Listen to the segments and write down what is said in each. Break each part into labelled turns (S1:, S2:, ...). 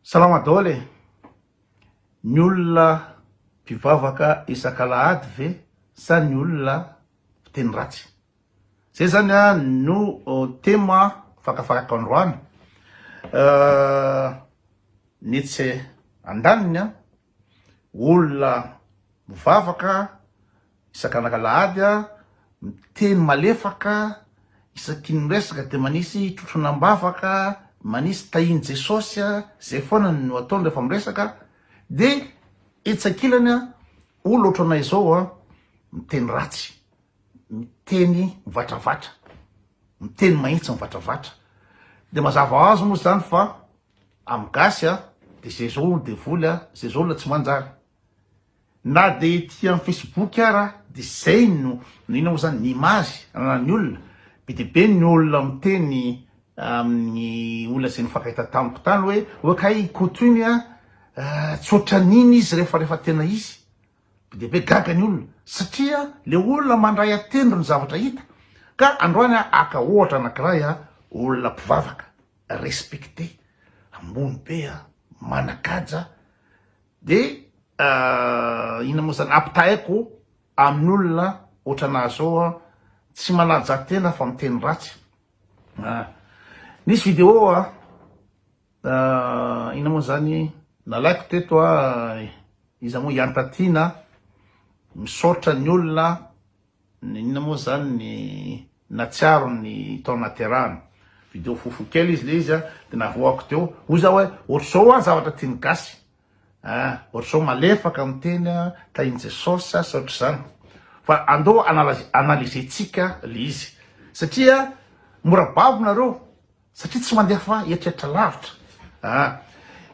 S1: Salama daholo e! Ny olona mpivavaka isak'alahady ve sa ny olona mpiteny ratsy? Zay zany a no tema fakafarako androany nitsy andaniny a! olona mivavaka isakan'alahady a, miteny malefaka, isaky ny miresaka dia manisy trotrona am-bavaka, manisy tahin'i Jesosy a, zay foana no ataony rehefa miresaka, de etsy ankilany a, olona ohatranay zao a, miteny ratsy, miteny mivatravatra, miteny mahitsy mivatravatra, de mazava ho azy moa zany fa Am gasy a de ze zao olo devoly a ze zao olo tsy manjary na de ety am facebook ara de zay no no ina mo zany ny image ananany olona be de be ny olona miteny aminy olona ze nifankahita tamiko tany oe oe kay i koto iny a tsy otraniny izy refa refa tena izy be de be gaga ny olona satria le olona mandray atendry ny zavatra ita ka androany a aka ohatra anakiray a olona mpivavaka respecter ambony be a manakaja de inona moa zany ampitahaiko amin'olona ohatranà zao a tsy manaja tena fa miteny ratsy a nisy vidéo a inona moa zany nalaiko teto a iza moa i Antatina misaotra ny olona Inona moa zany ny natsiaro ny tao naterahana. Video fofo kely izy le izy a, de navoako teo, hoy za oe otrzao an zavatra tian'ny gasy a, otrzao malefaka miteny a, tahin'i Jesosy a sa otrzany. Fa andao analyser-tsika le izy satria mora babo nareo satria tsy mandefa eritreritra lavitra a.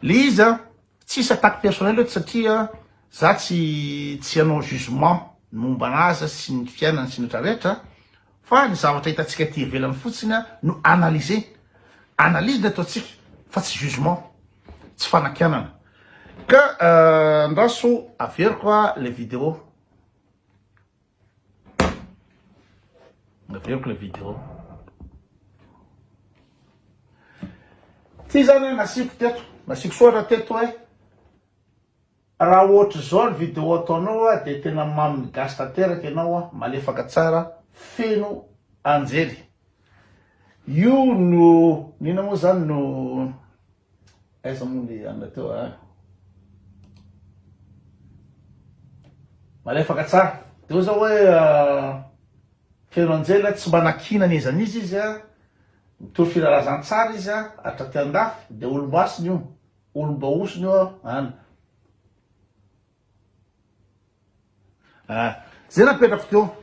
S1: Le izy a. Tsisy attaque personnel eto satria za tsy tsy hanao jugement momba an'azy sy ny fiainany sy ny rehetra rehetra fa ny zavatra hitantsika aty ivelany fotsiny no analyser, analyse no ataontsika fa tsy jugement, tsy fanakianana. Ka andraso averiko le video. Naveriko le vidéo. Ty zany nasiako teto, nasiako soratra teto hoe raha ohatr'izao ny vidéo ataonao a dia tena mamin'ny gasy tanteraka ianao a, malefaka tsara, feno anjely. Io no, n'inona moa zany no. Aiza moa le anla teo a. Malefaka tsara. Teo zao hoe Feno Angela tsy mba nakiana ny ezan'izy izy a. Mitory filalazantsara izy a hatraty andafy de olom-basiny io, olom-baosiny io an. Ah, zay napetrako teo.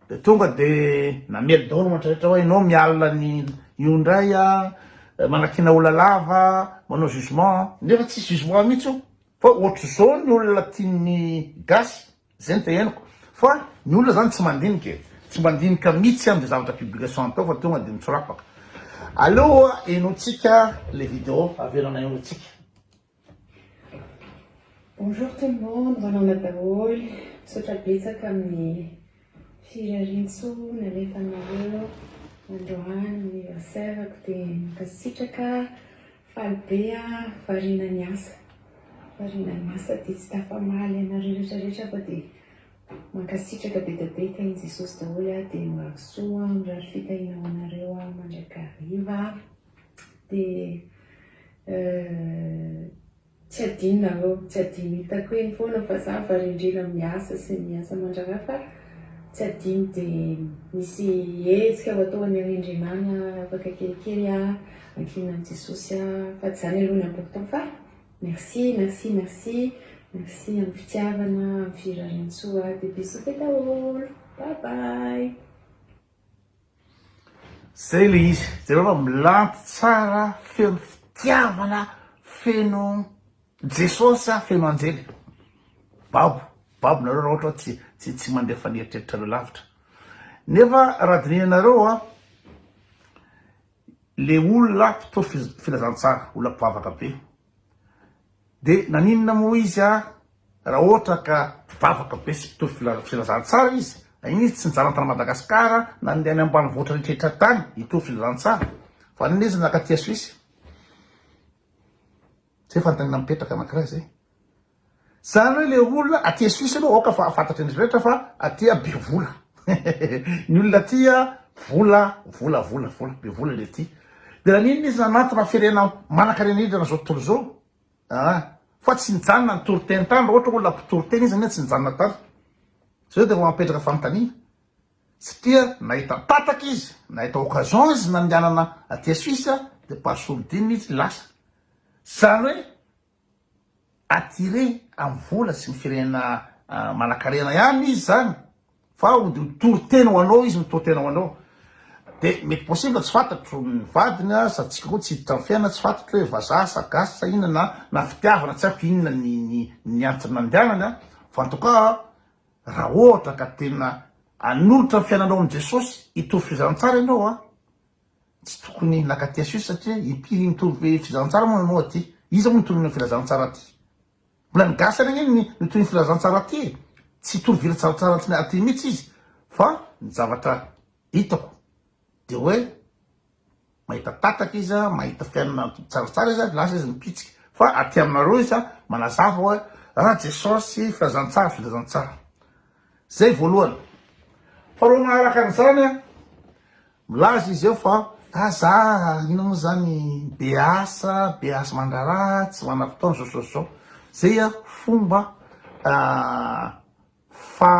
S1: De tonga de namely daholo mantra rehetra hoe ianao miala ny io indray a, eh, manakiana olona lava, manao jugement, nefa tsisy jugement mihitsy io. Fa ohatr'izao ny olona tian'ny gasy, zay no teneniko. Fa ny olona zany tsy mandinika e, tsy mandinika mihitsy am'zay zavatra publication atao fa tonga de mitsorapaka. Aleo henointsika le video, avelana henointsika.
S2: Bonjour tout le monde, manaona daholo, misaotra betsaka amin'ny firariantsoa nalefanareo androany anniversaire-ko dia mankasitraka, faly be aho, variana ny asa, variana ny asa dia tsy tafamaly anareo rehetra rehetra fa dia mankasitraka be dia be, tahin'i Jesosy daholo aho dia mirary soa, mirary fitahiana ho anareo aho mandrakariva. Dia euh tsy adinonareo, tsy adino hitako eny foana fa za varendrena miasa sy miasa mandraraha fa tsy adino dia misy hetsika ho atao any Rendrenana afaka kelikely ah ankihinan' Jesosy ah fa tsy zany aloha no important fa merci merci merci merci amin'ny fitiavana amin'ny firariantsoa dia bisous be daholo bye bye.
S1: Zay le izy, jereo fa milandy tsara feno fitiavana feno Jesosy sa feno anjely? Babo, babo nareo raha ohatra tsy tsy tsy mandefa ny eritreritrareo lavitra. Nefa raha dinihanareo a le olona mpitory filazantsara, olona mpivavaka be. De naninona moa izy ary raha ohatra ka mpivavaka be sy mpitory filazantsara izy, naninona izy tsy nijanona tany Madagascar nandeha any ambanivohitra rehetra tany hitory filazantsara fa naninona izy nakatia Suisse? Zay fanontaniana mipetraka anakiray zay. Zany hoe le olona aty Suisse aloha aoka fa fantatry ny rehetra fa aty be vola ny olona aty vola vola vola vola be vola le aty de naninona izy nanantona firenena manankarena indrindra zao tontolo zao ah fa tsy nijanona nitory teny tany raha ohatra olona mpitory teny izy anie tsy nijanona tany zay de vao apetraka fanontaniana satria nahita tataka izy nahita occasion izy nandehanana aty Suisse de par sourdine izy lasa zany hoe attiré amin'ny vola sy ny firenena manankarena ihany izy zany fa hody ho tory tena ho anao izy mitory tena ho anao de mety possible tsy fantatro ny vadiny a sa tsika koa tsy hiditra ny fiainana tsy fantatro hoe vazaha sa gasy sa inona na na fitiavana tsy haiko inona ny ny ny antony nandehanany a fa en tout cas raha ohatra ka tena hanolotra ny fiainanao amin'i Jesosy hitory fizanantsara ianao a Tsy tokony laka aty asio satria ity mitovy hoe filazantsara moa nanao aty. Iza moa no tolona ny filazantsara aty? Mbola ny gasy any ange no toy ny filazantsara aty e! Tsy tory vilazantsara aty aty mihitsy izy fa ny zavatra hitako dia hoe mahita tataka izy, mahita fiainana tsaratsara izy lasa izy mipitsika fa aty aminareo izy manazava hoe ah jesosy filazantsara filazantsara. Zay voalohany. Faharoa manaraka an'izany an! Milaza izy eo fa, ah za inona moa zany be asa, be asa mandraharaha, tsy manam-potoana zao zao zao. Zay a fomba fa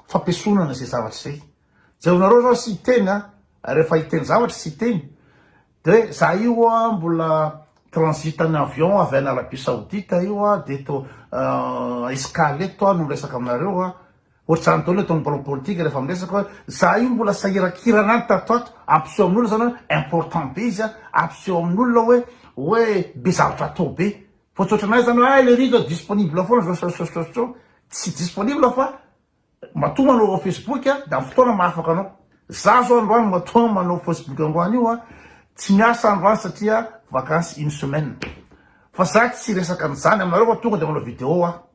S1: fampiesonana zay zavatra zay. Jereonareo zao sy hiteny a, rehefa hiteny zavatra sy hiteny, de hoe za io a mbola transite ny avion avy any Arabie Saoudite io a, de eto escale eto aho no miresaka aminareo a. Ohatr'izany daholo ataon'ny mpanao politika rehefa miresaka hoe za io mbola sahiran-kirana any tato ato, ampiseho amin'olona zany hoe important be izy a, ampiseho amin'olona hoe hoe be zavatra atao be. Fa tsy ohatranay zany hoe ay le riz zao disponible foana zao sao sao sao sao. Tsy disponible fa matoa manao ao facebook de amin'ny fotoana mahafaka anao. Za zao androany matoa manao facebook androany io a, tsy miasa androany satria vacances une semaine. Fa za tsy resaka an'izany aminareo fa tonga de manao video aho.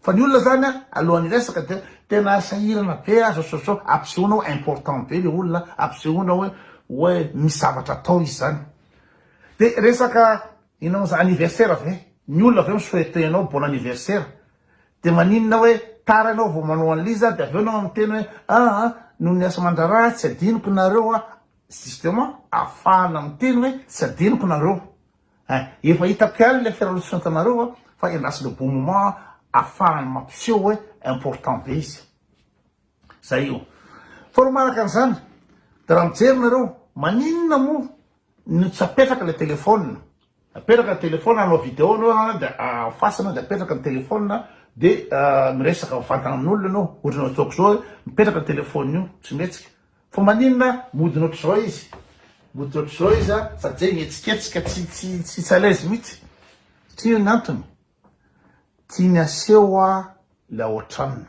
S1: Fa ny olona zany an, alohan'ny hiresaka dia tena sahirana be an, zao sao ampisehoana hoe important be le olona, ampisehoana hoe hoe misy zavatra atao izy zany. Dia resaka inona moa zany, anniversaire ve? Ny olona avy eo mi-souhaiter anao bon anniversaire, dia maninona hoe tara ianao vao manao an'le izy an, dia avy eo ianao miteny hoe ah an, noho ny asa aman-draharaha tsy adinoko nareo an, justement ahafahana miteny hoe tsy adinoko nareo, Eh, efa hitako ihany ilay fiaraha-misosantanareo a, fa hélas le bon moment afahany mampiseho hoe important be izy. Zay io. Faharoa manaraka an'izany, dia raha mijery nareo, maninona moa no tsy apetraka ilay téléphone, apetraka ny téléphone, hanao vidéo anao an, dia en face anao, dia apetraka ny téléphone, dia miresaka mivantana amin'olona ianao, ohatran'ny ataoko izao hoe mipetraka ny téléphone io, tsy mihetsika, Fa maninona modina otrzao izy? Moditra otrzao izy a sady zay mihetsiketsika tsy tsy tsy tsy alaizy mitsy satria io ny antony tiany aseho a la otran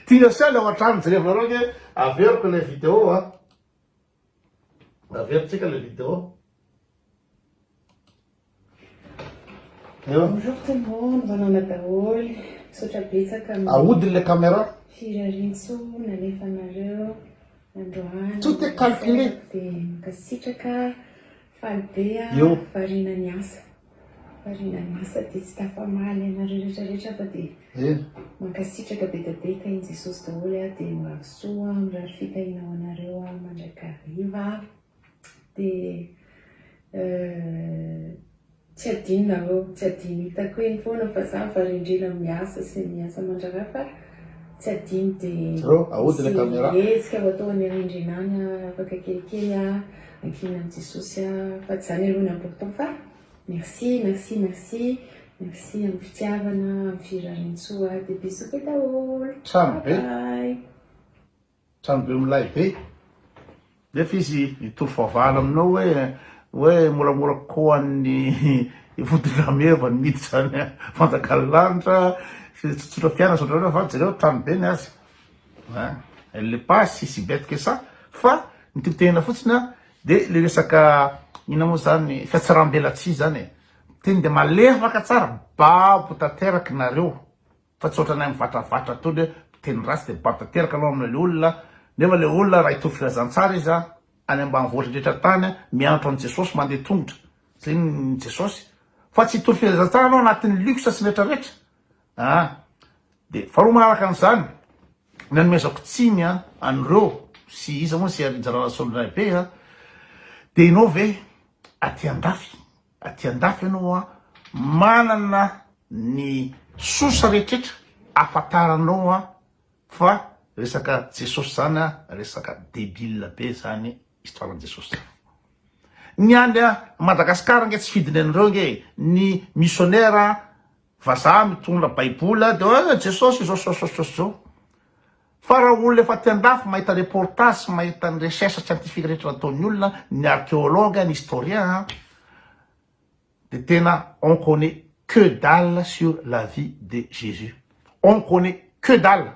S1: tiany aseho la otran jereo nareo anie averiko ilay video a. Averitsika le vidéo.
S2: Eo. Bonjour tout le monde, manana daholo. Misaotra betsaka amin'ny Ahodiny le caméra.
S1: firariantso
S2: nalefanareo androany. Tout est calculé.
S1: Dia
S2: mankasitraka faly be Eo. ah, variana
S1: ny asa.
S2: Variana lasa dia tsy tafamaly anareo rehetra rehetra fa dia mankasitraka betadeta in Jesosy daholo ah dia mirary soa ah mirary fitahiana ho anareo ah mandrakariva ah dia tsy adino nareo tsy adino hitako eny foana fa za varendrena miasa sy miasa mandraraha fa tsy adino dia misy
S1: hetsika ho atao any
S2: arendrina any ah afaka kelikely ah Vakina an'i Jesosy aho fa tsy zany aloha no important fa merci merci merci merci amin'ny fitiavana amin'ny firariantsoa de bisous be daholo Trano be. Bye
S1: bye. Trano be milay be. Nefa izy mitory fahavalo aminao hoe hoe moramora kokoa an'ny vodin-drameva ny miditra any fanjakan'ny lanitra, tsotsotra fiainana, misaotra anareo fa jereo trano be ny azy. Elle n'est pas si si bête que ça fa ny tiako tenenina fotsiny an dia le resaka inona moa zany fiatsarambelatsihy zany e, teny dia malefaka tsara babo tanteraky nareo fa tsy otranay mivatravatra tony hoe miteny ratsy dia babo tanteraka anao amle olona nefa le olona raha hitovy filazantsara izy an any ambanivohitra indrehitra tany an mianatra an'i Jesosy mandeha tongotra zay ny Jesosy fa tsy hitovy filazantsara anao anatin'ny luxe sy ny retraretra an. Dia faharoa manaraka an'izany, ny anomezako tsiny an'ireo sy iza moa ny seha-nizara Rasoly Raibe a, dia ianao ve aty andafy, aty andafy ianao a, manana ny sosa rehetrretra afantaranao a, fa resaka Jesosy izany a, resaka debile be izany Histoire an'i Jesosy tsara. Ny any a Madagascar nge tsy fidiny an'ireo nge ny missionnaire vazaha mitondra baiboly de hoe Jesosy izao sao sao sao zao. Fa raha olona efa aty an-dafy mahita reportage sy mahita ny recherche scientifique rehetra nataon'ny olona, ny archéologue, ny historien a, de tena on connait que dalle sur la vie de Jésus. On connait que dalle.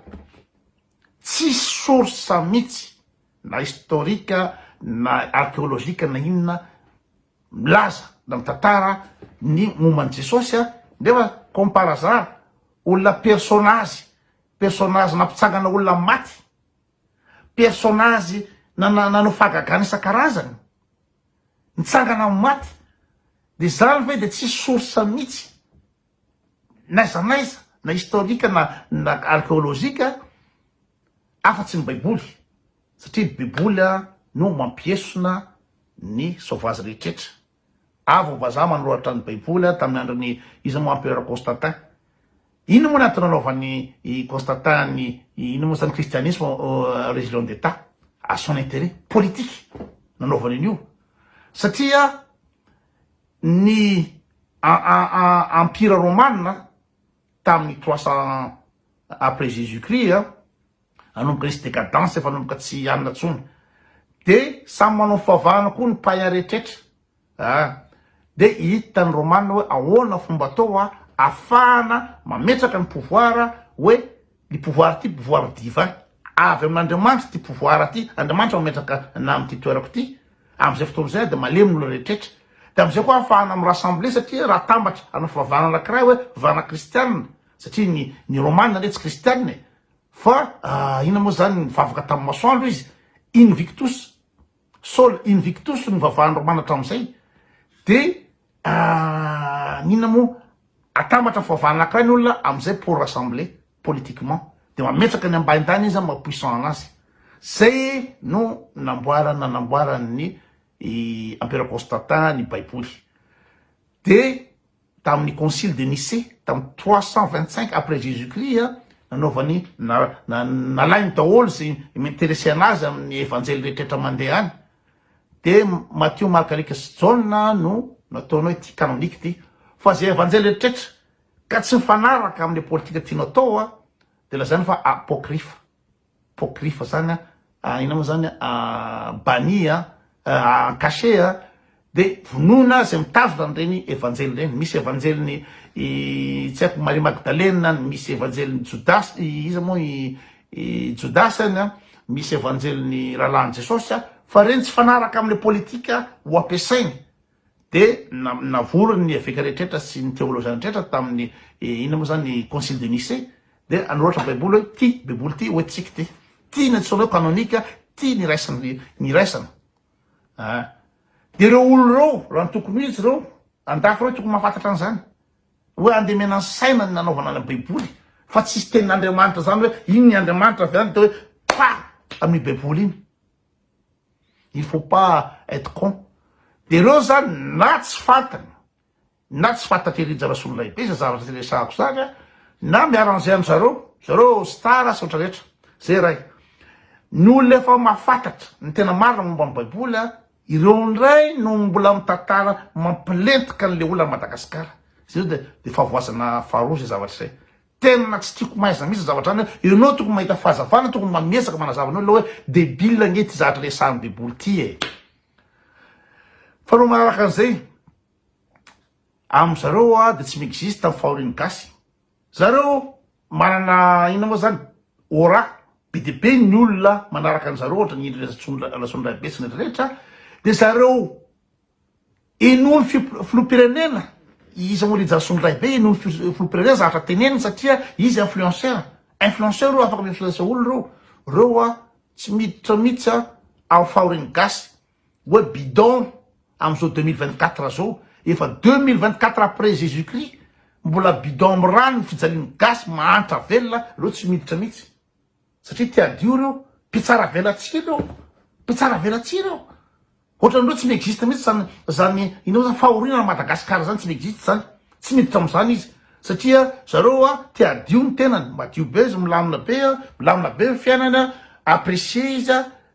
S1: Tsisy source mitsy na historique na archeologique na inona milaza na mitantara ny momba an'i Jesosy a! nefa comme par hasard olona personnage personnage nampitsangana olona maty personnage nanao fahagagana isan-karazany nitsangana amin'ny maty de zany ve de tsisy source mitsy? n'aiza n'aiza na historique na na archeologique afa tsy ny baiboly satria ny baiboly no mampiesona ny sauvage rehetretra avo vazaha manoratra ny baiboly tamin'ny andron'ny iza moa empereur Constantin ino moa natao nanaovan'ny i Constantin ny ino moa zany christianisme religion d'état à son intérêt politique nanaovany an'io satria ny Empira Romana tamin'ny trois cents après Jesus Christ a, nanomboka nisy decadence efa nanomboka tsy hanina intsony, de samy manao ny fivavahana koa ny païen rehetrretra ah, de hita ny Romana hoe ahoana fomba atao ahafahana mametraka ny pouvoir hoe Ity pouvoir ity pouvoir divin avy amin'Andriamanitra ity pouvoir ity, Andriamanitra mametraka anah amin'ity toerako ity, amin'izay fotoana izay dia malemy ny olona rehetrrehetra, dia amin'izay koa ahafahana mi-rassembler satria raha atambatra hanao fivavahana anankiray hoe fivavahana kristianina satria ny ny romana anie tsy kristianina e, fa inona moa izany nivavaka tamin'ny masoandro izy, invictus, sol invictus no nivavahan'ny romana hatramin'izay, dia Ahh inona moa atambatra foavana akay ny olona amizay pour rassembler politiquement de mametraka ny ambaintany izy maha puissant anazy zay no namboarany nanamboarany ny i empereur constantin ny baiboly de taminy concile de nicee tamy trois cent vingt cinq après jesus christ a nanaovany na nalainy daholo ze m'interesser anazy aminy evanjely rehetra rehetra mande any de Matio Marka Lika sy Jaona no nataonao ity canonique ity fa ze evanjely reetretra ka tsy mifanaraka amle politika tianao atao a de lazaina fa apocryphe apocryphe zany a ah, ina moa zany a banni a en cachet a de vonoina ze mitazona anreny evanjely reny misy evanjeliny tsy haiko Maria Magdalena misy evanjeliny Jodasy iza moa I Jodasy any an, misy evanjelin'ny rahalahin'i Jesosy an, fa reny tsy fanaraka amle politika ho ampiasainy de navory ny eveka rehetrretra sy ny teoloziana rehetrretra tamin'ny inona moa zany concile de Nicée de anoratra baiboly hoe ty baiboly ty hoe tsiky ty ty ny antsoina hoe canonique ty ny raisany ny raisana ah de reo olo reo raha ny tokony ho izy reo andafy reo tokony mahafantatra an'izany Hoe andemena ny saina ny nanaovana ny baiboly fa tsisy tenin'Andriamanitra zany hoe iny ny Andriamanitra avy any de hoe pa amin'iny baiboly iny. Il faut pas être con. De reo zany na tsy fantany na tsy fantatry Rija Rasololahibe zay zavatra tsy resahako zany a na mi-arranger an zareo zareo star sy otra rehetra zay ray ny olona efa mahafantatra ny tena marina momba ny baiboly a Ireo indray no mbola mitantara mampilentika an'ilay olona an'i Madagasikara. Izay izao dia dia fahavoazana faharoa izay zavatra izay. Tena tsy tiako maizina mihitsy ny zavatra izany hoe ianao tokony mahita fahazavana, tokony mamihetsaka manazava ny olona hoe débile ange ity zavatra resahan'i Beboly ity e. Faharoa manaraka an'izay, amin-dry zareo dia tsy mi-existe ny fahorian'ny gasy. Zareo manana inona moa zany aura be dia be ny olona manaraka an'zareo ohatra ny endriny Ratsondraibe sy ny rehetra dia zareo henoin'ny filohampirenena i Samori Ratsondraibe henoin'ny filohampirenena zavatra teneniny satria izy influenceur influenceur io afaka mi-influence olona reo reo a tsy miditra mihitsy a amin'ny fahorian'ny gasy Oe bidon amzao deux mille vingt quatre zao efa deux mille vingt quatre après jesus christ mbola bidon am rano ny fijalian'ny gasy mahantra velona reo tsy miditra mitsy satria te adio reo mpitsara velatsihy reo mpitsara velatsihy reo ohatrany reo tsy miexiste mitsy zany zany inao zany fahoriana ny madagascar zany tsy miexiste zany tsy miditra amzany izy satria zareo a te adio ny tenany madio be izy milamina be a milamina be ny fiainany a apprécier izy a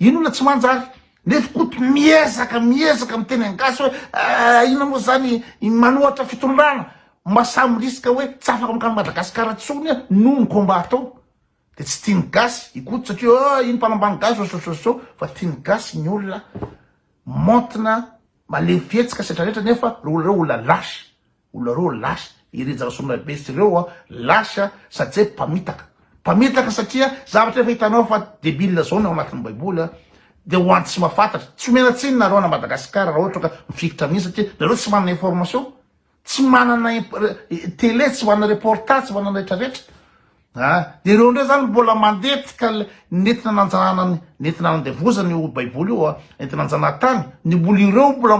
S1: Iny olona tsy manjary. Nefa Koto miezaka miezaka miteny an gasy hoe ahh inona moa zany i manohatra fitondrana ma samy risque hoe tsy afaka mankany Madagascar tsony a noho ny combat atao de tsy tiany gasy i Koto satria ohh iny mpanambany gasy sososososô fa tiany gasy ny olona maontina malemy fihetsika setra retra nefa reo olona lâche. Olona reo lasa, i Rija Rasoanabe sy reo a, lasa satsia mpamitaka. Mpamitaka satria zavatra efa hitanao fa debile zao ny ao anatin'ny baiboly a, dia ho an'ny tsy mahafantatra. Tsy omena tsiny nareo ana Madagascar raha ohatra ka mifikitra amin'iny satria nareo tsy manana information, tsy manana tele, tsy manana reportage, tsy manana retraretra. A, ireo indray zany mbola mandetika nentina nanjanahana ny nentina nandevozana io baiboly io a, nentina nanjanahana tany, ny mbola ireo mbola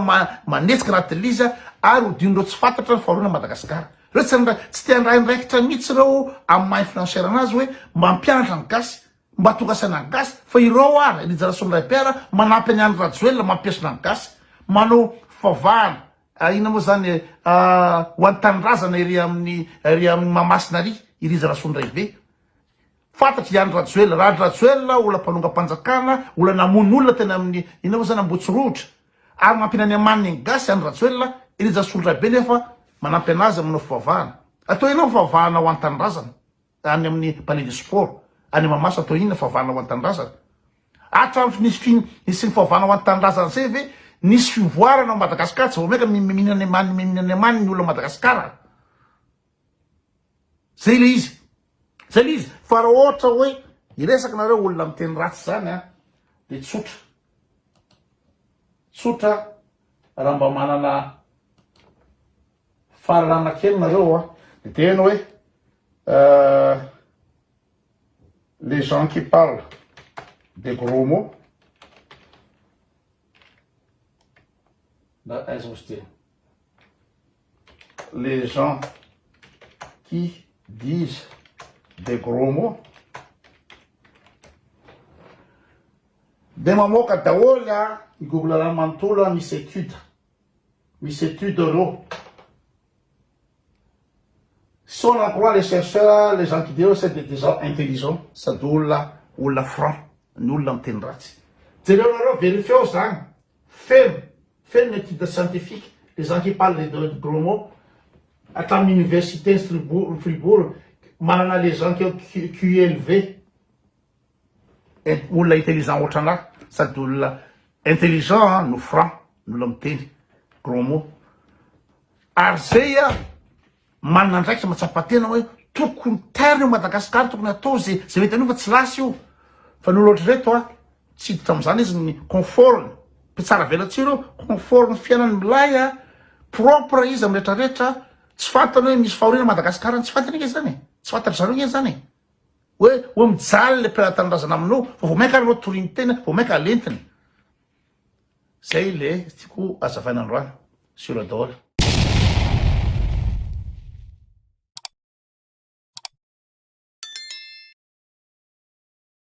S1: manetsika anaty lizy a, ary hodin'ireo tsy fantatra ny fahoriana Madagascar. Ireo tsy handray, tsy te handray andraikitra mihitsy ireo amin'ny maha influenceur anazy hoe mba hampianatra ny gasy, mba tonga saina ny gasy, fa ireo ary Elijah Rasoamindraipiara manampy an'i Andry Rajoelina mampiesona ny gasy, manao fivavahana, Ah inona moa zany eh? Ah ho an'ny tanindrazana ery amin'ny ery amin'ny Mahamasina ary i Rija Rasoandraibe. Fantatry i Andry Rajoelina, Randry Rajoelina olona mpanongam-panjakana, olona namono olona teny amin'ny inona moa zany Ambohitsirohotra. Ary mampiana any amaniny ny gasy Andry Rajoelina, i Rija Rasoandraibe nefa manampy anazy manao fivavahana. Atao inona ny fivavahana ho an'ny tanindrazana? any amin'ny palais de sport any Mamasa toa inona fahavana ho an'ny tanindrazana? Hatram'y nisy fi nisian'ny fahavana ho an'ny tanindrazana zay ve nisy fivoarana ao Madagascar tsy vao maika mi mihinana ny amaniny mi mihinana ny amaniny ny olona Madagascar zay le izy zay le izy fa raha ohatra hoe hiresaka nareo olona miteny ratsy zany a de tsotra tsotra raha mba manana Fahalalana kely nareo hoa. Miteny hoe euh les gens qui parlent des gros mots na aiza ozy teny les gens qui disent des gros mots dia mamoaka daholo a i google-na manontolo a misy étude Misy étude reo. Son en croit les chercheurs, les gens qui diront c'est des gens intelligents. Sady olona olona franc no olona miteny ratsy. Jereo nareo verifiao zany. Feno feno ny étude scientifique les gens qui parlent des de gros mots hatramin'ny université ny fribourg manana les gens qui ont QELV. Olona intelligent ohatranà sady olona intelligent an no franc ny olona miteny gros mot ary zay an manana andraikitra matsapa tena hoe tokony tairina eo Madagascar tokony atao zay zay mety an'io fa tsy lasa io fa ny olona ohatr'ireto an tsy hiditra am'zany izy ny conforme mpitsara velatsihy reo conforme fiainany milay an propre izy am' retraretra tsy fantany hoe misy fahoriana Madagascar any tsy fantany ange zany e tsy fantatry zareo ange zany e. Hoe hoe mijaly le mpiray tanindrazana aminao fa vao mainka ary anao toriny tena vao mainka alentiny. Zay le tiako azavaina androany sur le daholo.